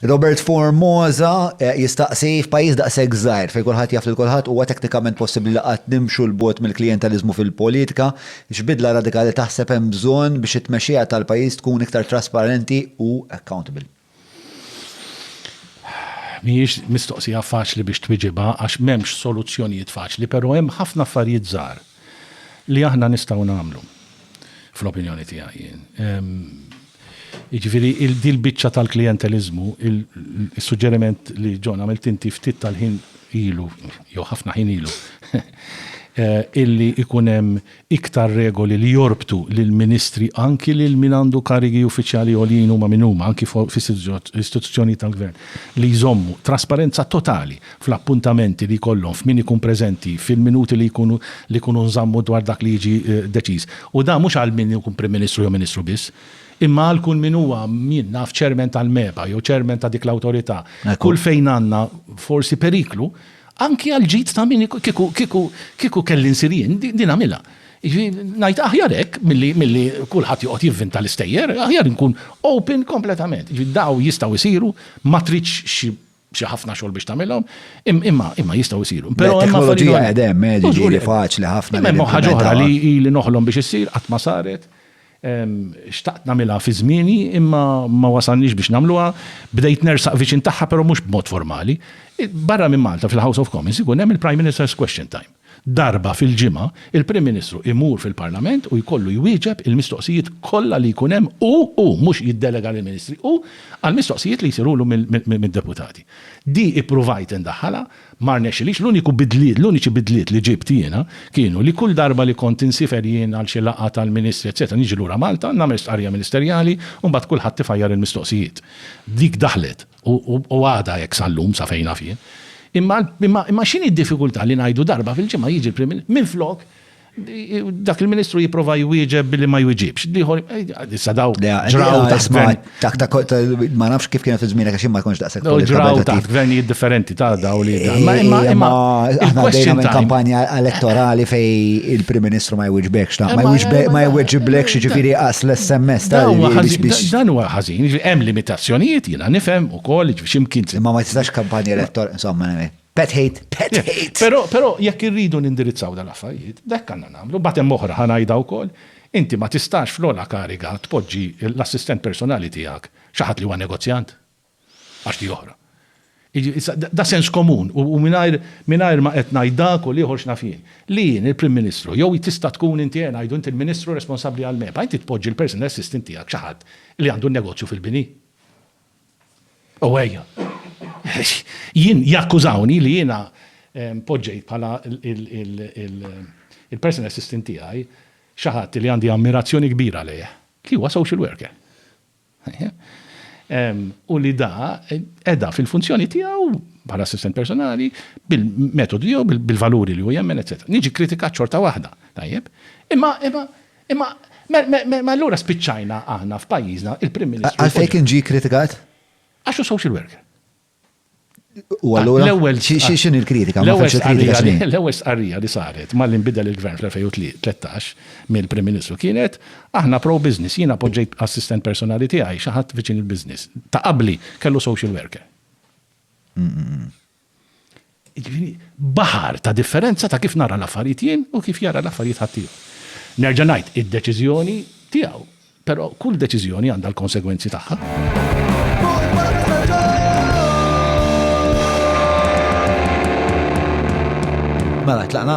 Robert Formosa jistaqsi, f'pajjiż daqshekk żgħir fejn kulħadd jaf lil kulħadd huwa teknikament possibbli li qatt nimxu 'l bogħod mill-klijenteliżmu fil-politika? X'bidla radikali taħseb hemm bżonn biex it-tmexxija tal-pajjiż tkun iktar trasparenti u accountable? Mhijiex mistoqsija faċli biex twiġibha għax m'hemmx soluzzjonijiet faċli, però hemm ħafna affarijiet żgħar. li aħna nistgħu nagħmlu. Fl-opinjoni tiegħi jien. Jiġifieri din biċċa tal-klijenteliżmu, is-suġġeriment li John għamilt inti ftit tal-ħin ilu, jew ħafna ħin ilu, Eh, illi ikun hemm iktar regoli li jorbtu lil ministri anki lil min għandu karigi uffiċjali għoljin huma min huma anki fis-istituzzjoni tal-gvern li jżommu trasparenza totali fl-appuntamenti li jkollhom, f'min ikun preżenti, fil-minuti li jkunu li jkunu nżammu dwar dak li jiġi deċiż. U dan mhux għal min ikun Prim Ministru jew Ministru biss, imma għal kull min huwa, jien naf, Chairman tal-MEPA jew Chairman ta' dik l-awtorità. Kull fejn għandna forsi periklu, anki għall-ġid ta' min kieku kieku kieku kelli nsir jien, din nagħmilha. Jiġifieri ngħid aħjar hekk milli milli kulħadd joqgħod jivvinta l-istejjer, aħjar inkun open kompletament. Jiġifieri dawn jistgħu jsiru, ma tridx xi xi ħafna xogħol biex tagħmilhom, imma imma jistgħu jsiru. Però hemm teknoloġija qed hemm, eh, ġifieri faċli ħafna. Hemm ħaġa oħra li li noħlom biex issir qatt ma saret. Xtaqt nagħmilha fi żmieni imma ma wasalniex biex nagħmluha. Bdejt nersaq viċin tagħha però mhux b'mod formali. Barra minn Malta fil-House of Commons ikun hemm il-Prime Minister's Question Time. Darba fil-ġimgħa, il-Prim Ministru imur fil-Parlament u jkollu jwieġeb il-mistoqsijiet kollha li jkun hemm hu, hu, mhux jiddelega lill-Ministri, hu, għall-mistoqsijiet li jsirulu mid-deputati. Di ippruvajt indaħħalha, ma rnexxilix, l-uniku bidliet, l-uniċi bidliet li ġibt jiena kienu li kull darba li kont insifer jien għal xi laqgħa tal-Ministri etc niġi lura Malta, nagħmel stqarrija ministerjali u mbagħad kulħadd ifajjar il-mistoqsijiet. Dik daħlet. u għadha hekk sal-lum sa fejn naf jien. Imma x'inhi d-diffikultà li ngħidu darba fil-ġimgħa jiġi l-Prim Ministru, minflok dak il-Ministru jipprova jwieġeb billi ma jwiġibx, l-ieħor issa daw ġraw taħt gvern. Ma nafx kif kienet iż-żmien għax ma jkunx daqshekk. Daw ġraw taħt gvernijiet differenti ta' daw li. Imma aħna dejjem minn kampanja elettorali fej il-Prim Ministru ma jwiġbekx, ma jwiġiblekx jiġifieri qas l-SMS tal-li. Dan huwa ħażin, hemm limita Azzjonijiet jiena nifhem ukoll, jiġifieri x'imkien se. Imma ma tistax kampanja elettorali, insomma, pet hate, pet hate! Però, però jekk irridu nindirizzaw dal-affarijiet, hekk għandna nagħmlu. Mbagħad hemm oħra, ħa ngħidha wkoll, inti ma tistax fl-ogħla kariga tpoġġi l-assistent personali tiegħek xi ħadd li huwa negozjant. Għax di oħra. Da sens komun u mingħajr ma qed ngħid dak u l-ieħor x'naf jien. Li jien, il-Prim Ministru, jew tista' tkun inti, ngħidu, inti l-Ministru responsabbli għall-MEPA, inti tpoġġi l-personal assistant tiegħek xi ħadd li għandu n-negozju fil-bini? U ejja. Jien jakkużawni li jiena poġġejt bħala l-personal assistant tiegħi xi ħadd li għandi ammirazzjoni kbira lejh, li huwa social worker. u li da edha fil-funzjoni tiegħu bħala assistent personali bil-metodu jew bil-valuri li hu jemmen, etc. Niġi kritikat xorta waħda, tajjeb? Imma imma imma ma allura spiċċajna aħna f'pajjiżna il-Prim Ministru. Għalfejn kien ġie kritikat? Għax hu social worker. U allura. L-ewwel x'in il-kritika? L-ewwel kritika. L-ewwel stqarrija li saret malli nbidel il-gvern fl-2013 mill-Prim Ministru kienet aħna pro-business. Jiena poġġejt assistent personali tiegħi xi ħadd viċin il-business. Ta' qabli kellu social worker. Jiġifieri baħar ta' differenza ta' kif nara l-affarijiet jien u kif jara l-affarijiet ħaddieħor. Nerġa' ngħid, id-deċiżjoni tiegħu, però kull deċiżjoni għandha l-konsegwenzi tagħha. Mela, tlaqna?